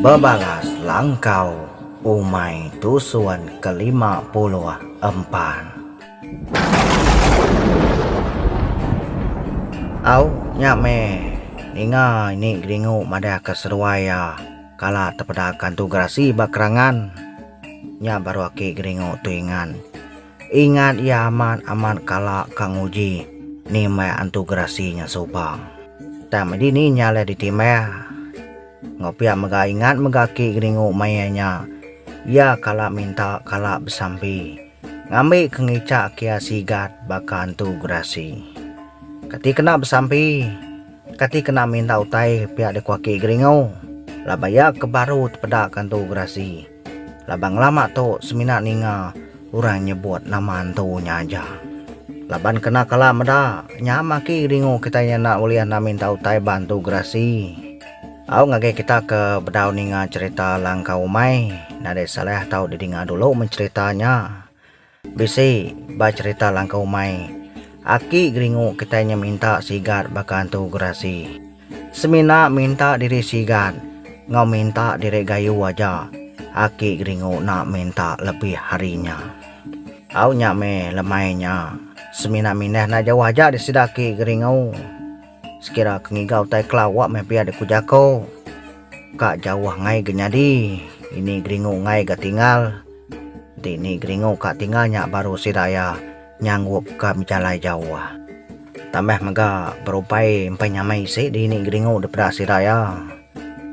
Bebalas langkau umai tusun kelima puluh empan. Au, nya meh. Ninga ini geringu madahka seruai iya kala tepedaka entu gerasi ba kerangan. Nya baru aki geringu tu ingan. Ingat iya amat amat kala ka nguji nimbah antu gerasi nya suba. Tang medi ni nya leh ditimbah. Enggau pia mega ingat mega aki Geringu mayuh nya iya kala minta kala besampi ngambi ke ngica ke iya sigat baka antu gerasi. Kati kena besampi kati kena minta utai pia deko aki Geringu laban iya ke baru tepeda ke antu gerasi. Laban ngelama tu semina ninga orang nyebut nama antu nya aja. Laban kena kala meda nya maki ringu kitai enda ulih enda minta utai ba antu gerasi. Au ngagai kita ke bedau ninga cherita Langkau Umai nadai salah tau didinga dulu mencherita nya. Bisi ba cherita langkau umai, aki geringu kitai nya minta sigat baka antu gerasi. Semina minta diri sigat enggau minta diri gayu aja, aki geringu enda minta lebih ari nya. Au nya meh lemai nya, semina mindah enda jauh aja sida aki geringu. Sekira ke ngiga utai kela awak meh pia dek ku jako. Ka jauh angai ge nyadi. Ini geringu angai ga tinggal. Enti ini geringu ka tinggal nya baru sida iya nyanggup ka bejalai jauh. Tambah mega berupai empai nyamai isi di ini geringu depeda sida iya.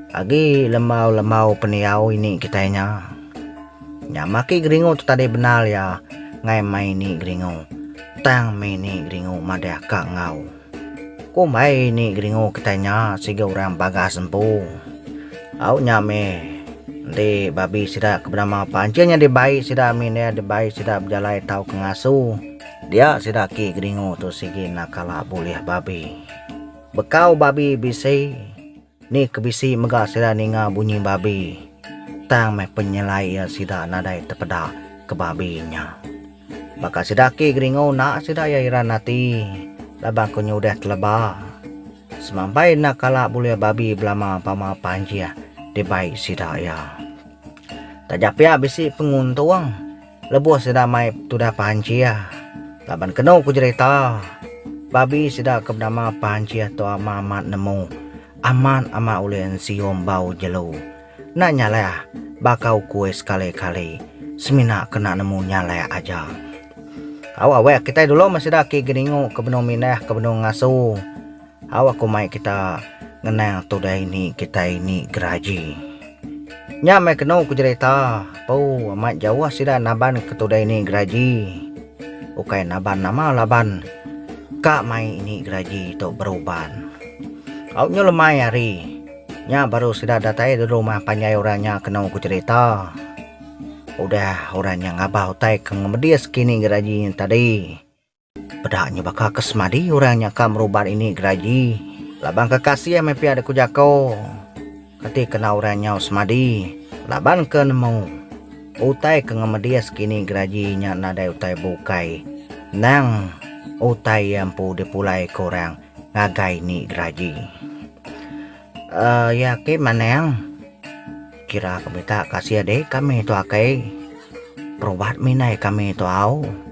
Agi lembau-lembau pendiau ini kitai nya. Nya maki geringu tu tadi bendar iya ngai mai ini geringu. Tang meh ini geringu madah ka enggau. Kumbai ni Geringu kitai nya siga orang bagas empu. Au nya meh enti babi sida ke benama pancing nyadi bai sida min iya dibai sida bejalai tauka ngasu dia sida aki Geringu tu sigi enda kala bulih babi. Bekau babi bisi. Ni ke bisi mega sida ninga bunyi babi, tang meh penyelai iya sida nadai tepeda ke babi nya. Baka sida aki Geringo enda sida iya iran ati laban ko nya udah teleba. Semampai enda kala bulih babi belama pama panjih dibai sida iya. Taja pia bisi penguntung. Lebuh sida mai tudah Panchih, laban kenu ku jerita, babi sida ke benama Panchih tu amat amat nemu, amat amat ulih ensium bau jelu. Enda nyaleh baka ukui sekali kali, semina kena nemu nyaleh aja. Au aweh kitai dulu meh sida ki geningu ke benung minah ke benung ngasu, Au aku mai kita ngenang tudai ni kitai ni geraji. Nya meh kenu ku jerita pau amat jauh sida naban ke tudai ni geraji ukai naban nama laban ka mai ini geraji tu beruban. Au nyu lemai hari nya baru sida datai di rumah panjai orang nya kenu ku jerita udah orang nya ngabau utai ke ngemedis kini geraji nya tadi. Peda nya baka ke semadi orang nya ka merubat ini geraji laban ke kasih meh pia dek ku jako. Kati kena orang nyau semadi laban ke nemu utai ke ngemedis kini geraji nya nadai utai bukai endang utai ia empu dipulai ke orang ngagai ni geraji. Ia ake manang kira ke mita kasih ade kami tu akai perubat minai kami tu au.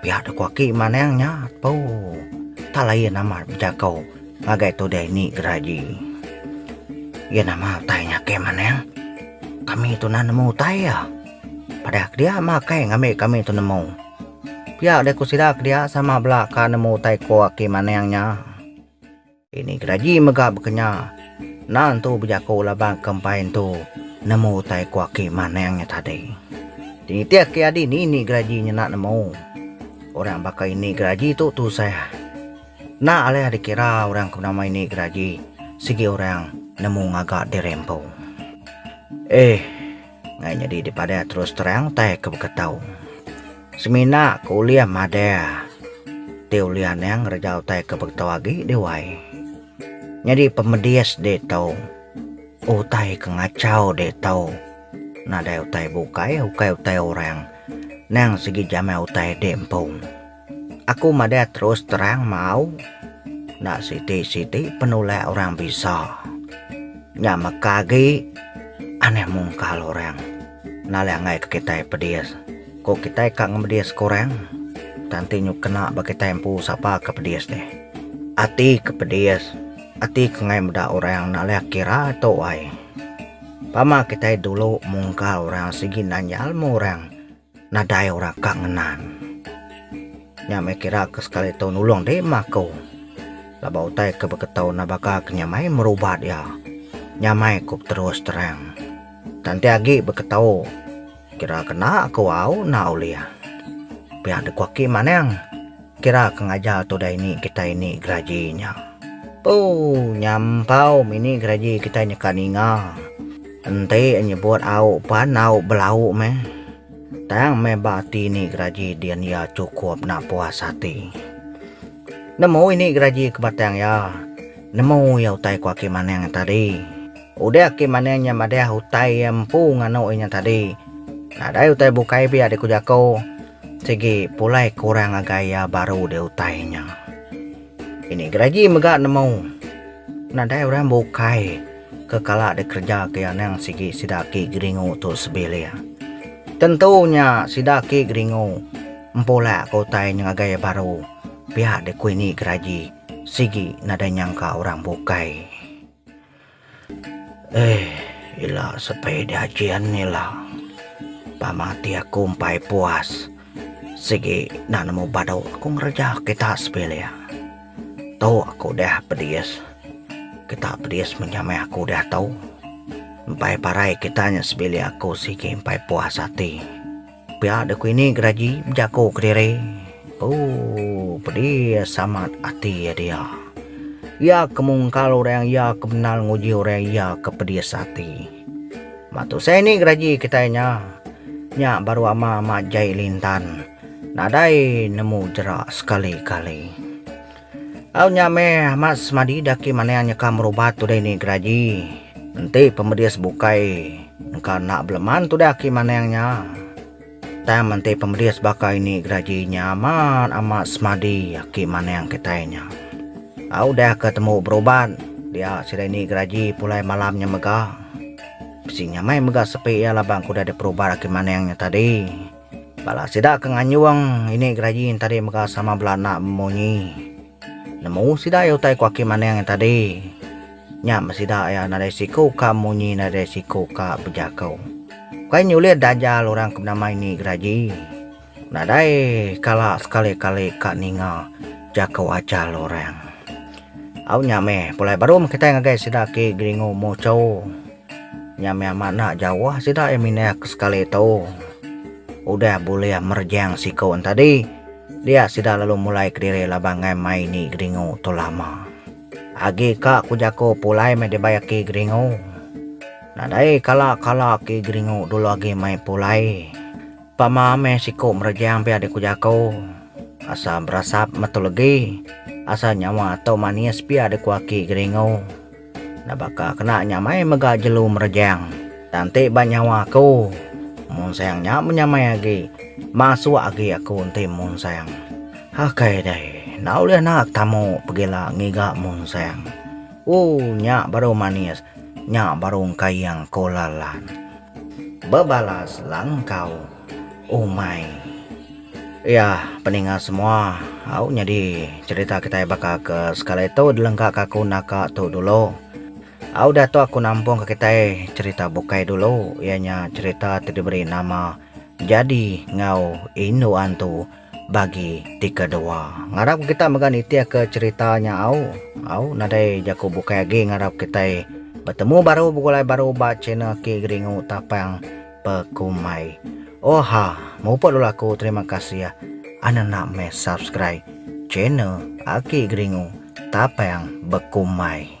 Pia deka aki manang nya tu tak lain amat bejaku ngagai tudai ni geraji. Iya nama utai nya ke manang? Kami tu nan nemu utai iya. Padah ke dia makai ngambi kami tu nemu. Pia deh ku sida ke dia sama bela ka nemu utai ko aki manang nya. Ini kedaji mega bekenya. Enda entu bejaku laban kempai entu nemu utai ku aki Manang nya tadi. Ti nitih ke adi ni ni geraji nyena nemu. Orang baka ini geraji tu tusah. Enda alih dikira orang ke benama ini geraji sigi orang nemu ngaga diri empu. Eh. Ngai nyadi dipadah terus terang tai ke baka tau. Semina ke ulih madah ti ulih anang rejau tai ke baka tau agi deh wai. Nyadi pemedis deh tau. Utai ke ngachau deh tau. Nadai utai bukai, ukai utai orang. Nang sigi jamai utai deh empu. Aku madah terus terang mau enda siti-siti penulak orang bisa. Nya meka agi anih mungkal orang nalang ai ke kitai pedis. Ko kitai ka ngemedis ke orang tang ti nyu kena ba kitai empu sapa ke pedis deh. Ati ke pedis ati ke ngai meda orang nalang kira tu ai. Pama kitai dulu mungkal orang sigi nanya ilmu orang. Nadai orang ka ngenan. Nya meh kira ke sekali tau nulung deh emah aku. Laban utai ke baka tau enda baka ke nya mai merubat iya. Nya mai ku beterus terang. Tang enti agi baka tau kira ke enda aku au enda ulih. Pia deh ku aki manang. Kira ke ngajar tu udah ini kitai ni geraji nya. Ooh nyampau mini geraji kitai nyeka ninga. Enti nyebut au pan au belau meh. Tang meh ba ati ni geraji din iya chukup enda puas ati. Nemu ini geraji ke batang iya, nemu iya utai ku aki manang iya tadi. Udah aki manang iya madah utai iya empu nganu inya tadi. Nadai utai bukai pia deh ku jaku. Sigi pulai kurang ngagai iya baru di utai nya. Ini geragi mega nemu nadai orang bukai ke kala dikereja ke iya nang sigi sida aki geringu tu sebilik. Tentu nya sida aki geringu empulak ke utai nya ngagai iya baru pia dikui ni geragi sigi nadai nyangka orang bukai. Eh ila sepai diaji ani la tama ati aku empai puas sigi enda nemu badu ku ngereja kita sebilik tu aku udah pedis kita pedis mega meh aku udah tau empai parai kita nya sebilik aku sigi empai puas ati. Pia da ku ini geraji bejaku kediri. Oh, pedis amat ati dia. Iya ke mungkal orang iya ke bendar nguji orang iya ke pedis ati. Ba tusai ni geraji kitai nya, nya baru ama majai lintan nadai nemu jerak sekali-kali. Au nya meh amat semadi daki manang nyeka merubat udah ini geraji. Enti pemedis bukai engka enda beleman tudah aki manang nya. Tang enti pemedis baka ini geraji nya amat amat semadi aki manang kitai nya. Au udah ke temu berubat dia sida ini geraji pulai malam nya mega. Bisi nya meh mega sepi iya laban ke udah diperubat aki manang nya tadi. Bala sida ke nganjung ini geraji tadi mega sama bela anak memunyi. Nemu sida iya utai ku Aki Maning iya tadi. Nya men sida iya nadai siku ka munyi nadai siku ka bejaku. Ukai nyulit dajal orang ke nama ini geraji. Nadai kala sekali-kali ka ninga jaku ajal orang. Au nya meh pulai barum kitai ngagai sida ke Geringu Muchau. Nya mih amat enda jauh sida iya mindah ke sekali tu. Udah bulih merejang siku enti tadi, dia sida lalu mulai kediri laban ngai mai ni Geringu tu lama. Agi ka ku jaku pulai meh dibai aki Geringu. Nadai kala-kala aki Geringu dulu agi mai pulai. Pama meh siku merejang pia diku jaku. Asa berasap metu legi. Asa nyawa tu manis pia diku aki Geringu. Enda baka kena nyamai mega jelu merejang, tang enti ba nyawa aku, munsang nya menyamai agi, masuk agi aku enti munsang. Akai deh, enda ulih naak tamu pegila ngiga munsang. Ooh nya baru manis, nya baru engkaing ko Lalan. Bebalas Langkau. Umai. Iya, peninga semua, au nyadi cherita kitai baka ke sekali tu dilengka ka aku naka tu dulu. Au diatu aku nampung ka kitai cherita bukai dulu iya nya cherita ti diberi nama Jadi enggau Indu Antu bagi ti kedua. Ngarap ke kita mega nitih ke cherita nya au. Au nadai jaku bukai agi ngarap kitai betemu baru begulai baru ba channel K Geringu Tapang. Pekumai. Oha, muput dulu aku terima kasih anda nak meh subscribe channel Aki Geringu Tapang Bekumai.